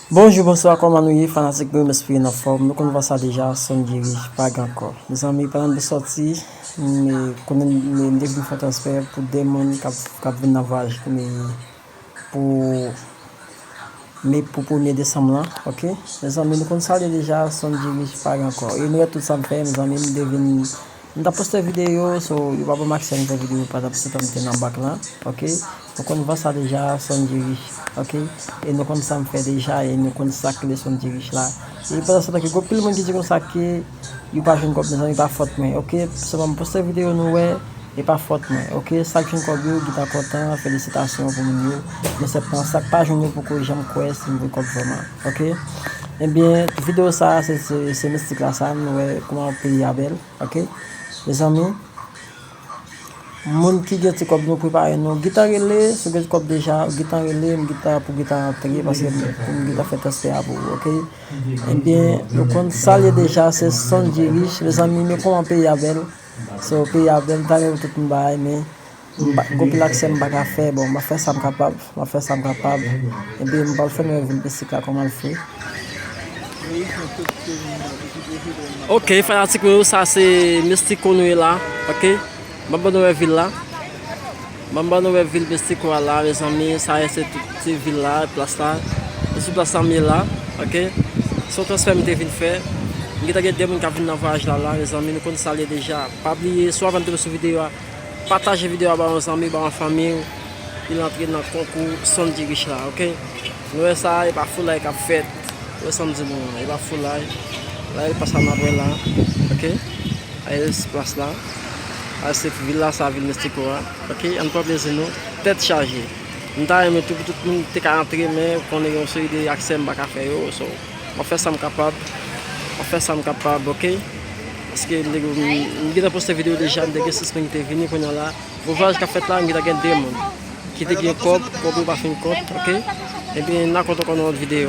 Bonjou bonswa kòman nou ye fanatik nou mesperen anfòm nou konn vwa sa deja son geri vag ankò mezanmi pandan nap sòti me konnen me mte vin fè transfè pou 2 moun kap vin nan vwayaj me pou me pou premye desanm lan ok mezanmi nou konn sa liye deja son geri vag ankò e nou wè tout sam fè mezanmi mte vin M tap poste video so yo pa banm aksè m fè video pa tap toutan m te nan bank lan ok nou konn van sa deja sondjy rich ok e nou konn sam fè deja e nou konn sak rele sondjy rich la e pandan se tan ke gon pil moun ki di konsa ke yo pa jwenn kòb mezanmi pa fòt mwen ok sèlman m poste video nou wè e pa fòt mwen ok sak jwenn kòb yo gentan kontan felisitasyon pou moun yo men sèptan sak pa jwenn yo poko janm kwè si m jwenn kòb vrèman. Ok ebyen video sa se se mistik la sa nou wè kouman peyi a bèl ok mezanmi moun ki gen ti kòb nou prepare nou gita rele si w gen ti kòb deja gita rele m gita pou gita antre paske m gita fè transfè a pou ou ok ebyen nou konn sa l ye deja se sondjy riche mezanmi men kouman peyi a bèl so peyi a bèl m ta renmen pou tout moun bay men Goupil ak sèm pa ka fè bon map fè sam kapab map fè sam kapab epi mpral fè mwen vin pi sika kòm al fri. Ok fanatik mwen yo sa se Mestico nou ye la ok map ban nou wè vil la map ban nou wè vil Mestico a la mezanmi sa ye se tout se vil la plas la se sou plas la m ye la ok se yon transfè m te vin fè m gentan gen 2 moun kap vin nan vwayaj la la mezanmi nou konn sa l ye deja pa bliye sou avan m tonbe sou videyo a. Pataje video a ba yon zanmi ba yon fanmi w pou l antre nan konkou son ti rich la ok nou wè sa epa foulay kap fèt ou wè sam di nou an epa foulay la el pasa nap wè la ok ayel se plas la ayel se villa sa vil mestico a ok ann pran plezi nou tèt chaje m ta renmen tou pou tout moun te ka antre men ou konnen gen yon seri de aksè m paka fè yo so map fè sam kapab map fè sam kapab ok Paske m gentan poste video deja m te gen 6 moun ki te vini kounya la pou vwayaj kap fèt la m gentan gen 2 moun ki te gen kòb kòb yo pa fin kont ok ebyen na kont ankò nan lòt video.